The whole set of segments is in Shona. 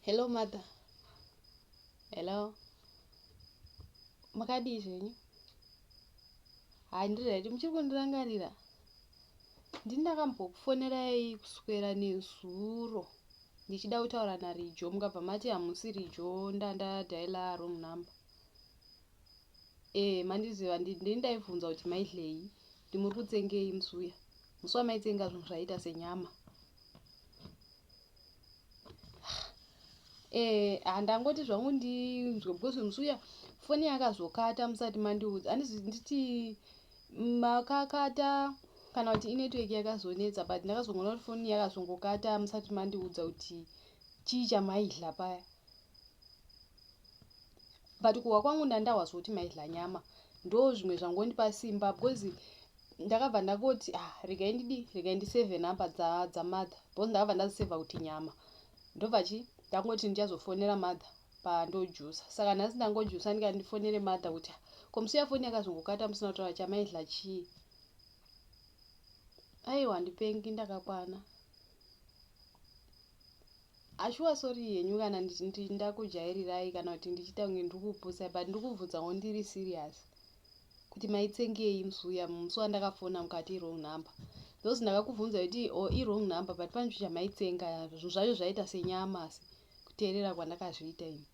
hello mother hello makadii zvenyu handiri right muchiri kundirangarira ndini ndakambokufonerai kuswera nezuro ndichida kutaura narijo mukabva mati hamusi rijo ndandadaila wrong number Eh mandiziva ndini ndaivhunza kuti maidleyi kuti muri kutsengei musi uya musi wamaitsenga zvinhu zvaiita senyama eh handangoti zvangu ndinzwe because musi uya foni yakazokata musati mandiudza handizi nditi makakata kana kuti inetwork yakazonetsa but ndakazongoona kuti foni yakazongokata musati mandiudza kuti chii chamaidla paya but kuhwa kwangu ndandahwa zvoti maidla nyama ndo zvimwe zvangondipa simba because ndakabva ndangoti ah regai ndidi regai ndiseve number dzamother because ndakabva ndaziseva kuti nyama ndobva chi ndangoti ndichazofonera mother pandojusa saka nhasi ndangojusa ndikati ndifonere mother kuti ah, komusiya foni yakazongokata musina kutaura chamaidla chii aiwa ndipengi ndakakwana Haa shuwa sorry henyu kana ndichiti ndakujairirai kana kuti ndichiita kunge ndikupusai but ndikubvunzawo ndiri serious kuti maitsengei musi uya musi wandakafona mukati iwrong number those ndakakubvunza kuti o oh, iwrong number but pane chinhu chamaitsenga zvinhu zvacho zvaita senyama asi kuteerera kwandakazviita ini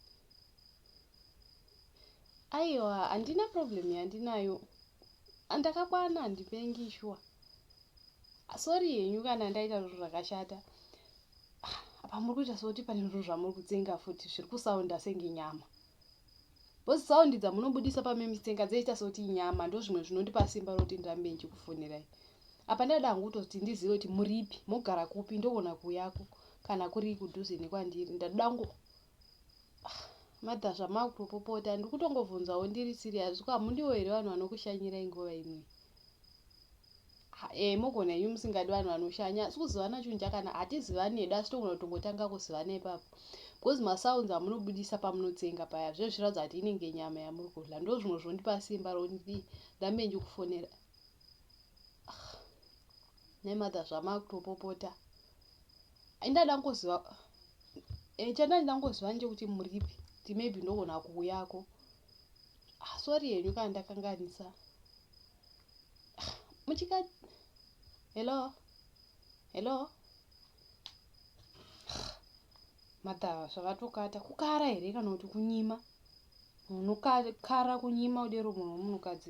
aiwa handina problem yandinayo andakakwana handipengi shuwa sorry henyu kana ndaita zvinhu zvakashata apa muri kuita sekuti pane zviro zvamuri kutsenga futi zviri kusaunda senge nyama bhozi saundi dzamunobudisa pamemitenga dzeita sekuti inyama ndo zvimwe zvinondipa simba roti ndirambe ndichikufonirai apa ndada hangu kutoti ndizive kuti muripi mogara kupi ndogona kuyako kana kuri kudhuze nekwandiri ndadangwo Mother zvamavkutopopota ndikutongovhunzawo ndiri serious ko hamundiwo here vanhu vanokushanyirai nguva imwe eh mogona henyu musingadi vanhu vanoshanya asi kuzivana chinhu chakana hatizivani hedu asi togona kutongotanga kuzivana ipapo because masounds amunobudisa pamunotsenga paya zvive zvichiratidza kuti inenge nyama yamuri kudla ndo zvimwe zvondipa simba rokuti ndambe ndikufonera ah, nemother zvamava kutopopota Ndada ngoziva eh, chanda ndida ngoziva nje kuti muripi kuti maybe ndogona kuuyako ah, sorry henyu kana ndakanganisa ah, muchika hello hello ah, madhava zvavatokata kukara here kana kuti kunyima munokara kunyima udero munhu wemunhukadzi